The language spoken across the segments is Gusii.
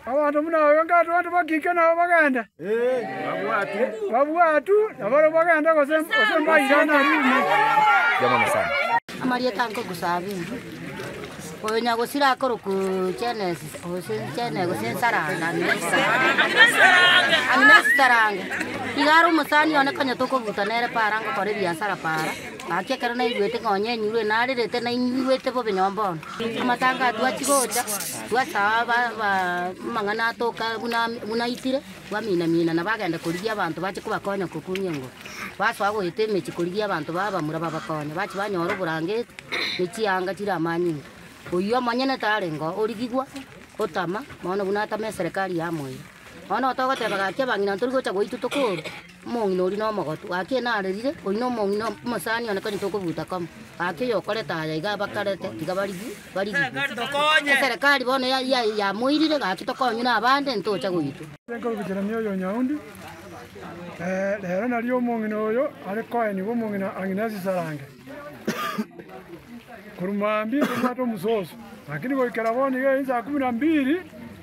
Abanto buna abio nkato abanto bakike nabo bagende? Babwatu, na barabwo bagende gose mbaira narurire? Amarieta a nkoku Sabini. Oyo nyagosira akorokwa Genesis, gose Gene, gose Saranga, Agnes Saranga. Iga are omosani one konya tokobuta nere para ngokora ebiasara para. Gaki ekero naigwete ng'a onye enyurure narerete naigwete bobe nyomba one. Amatanga atwachi gocha, twasaa amang'ana atoka buna aitire, twamiina-miina na bagenda korigia abanto bache kobakonya gokumia engoro. Basoa goeta emechie korigia abanto ba abamura babakonye. Bache banyora oborangeti ne chianga chire amanyinga. Oyio omonyene tarenge oo origigwa otama, bono buna atama eserekari yamoira. Bono otogoteba gaki abang'ina ntorigocha goitwa tokorwa. Omong'ina oria nomogotu, gaki oyo narerire, oyio nomong'ina omosani one, konya tokobuta koma, gaki oyo okorete aya iga abakarete, tiga barigwe, barigigwe. Eserekari bono ya- ya- yamoirire, gaki tokonywe nabande, ntocha goitwa. Nkorubicherania oyo Nyaundi, rero nario omong'ina oyo are koenigwa omong'ina ang'ine ase esarange, korwa mambia tobwate omososo, lakini goikera bono iga ensa ya kumi na mbiri.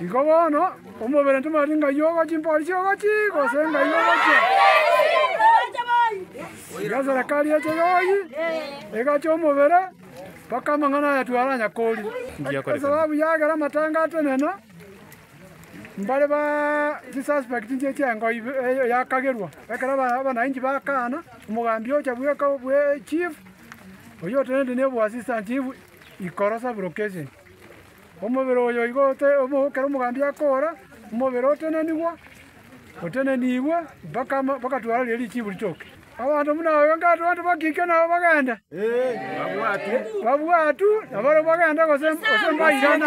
Igo bono, omobere ntomanyeti ng'ai ogocha, chimpori chi'ogochi, gose ng'ai ogochia. Iga eserekari eche yoyi egacha omobere, mpaka amang'ana aya twaranya koria. Esababu yagera amatanga atenena, mbare ba chisuspect nchie chi'engo ibe yakagerwa, ekero aba abanainchi bakaana, omogambi ocha bweka bwe echief, oyio oteneneti neboassistant chief Ikorosa broadcasting. Omobere oyo igo omookere omogambi akoora, omobere otenenigwa, otenenigwe, mpaka ama bakatwara riria richiibu ritoke. Abanto buna aba inga abanto bakike nabo bagende? Babwatu, na baria bagende gose gose mbairane?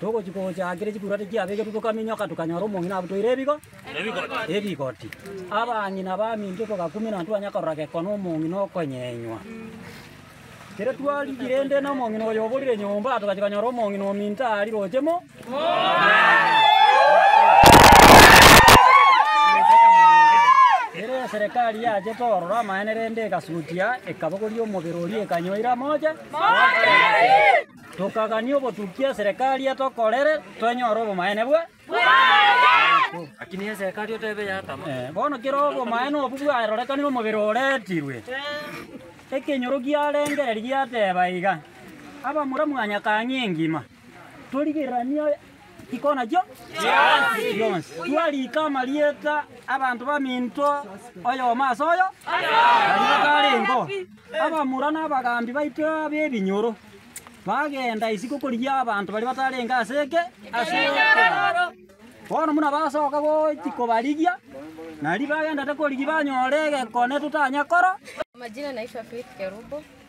Togochia gocha kera chikuurwate chiabegetwe tokaminyoka tokanyora omong'ina abotoire ebigo ebigoti. Abang'ina baminto togakuminana twanya korora gekono omong'ina okonyenywa. Kera twarigia rende na omong'ina oyo oborire nyomba togachia konyora omong'ina ominto aria roche mo Kera eserekari yachete ororo amaene rende egasutia ekabogoria omobere oria ekanyoira moche. Tokagania obotuki eserekari ye tokorere, twenyore obomaene bwe. Bono kera obomaene obwo bwarorekanire omobere oreetirwe, ekenyoro giarengereria giateba iga, Abamura mwanyakang'e engima, torigereranie Chikona chio chionsi. Twariika amarieta 'abanto baminto oyomo ase oyo, baria batarengeo. Abamura na abagaambi baito b'ebinyoro bagenda isiko korigia abanto baria batarenge ase eke ase ekeraro. Bono buna basoka gochia kobarigia, nari bagendete korigia banyore egekone totanya koro. Amajina naitwa Faith Kerubo.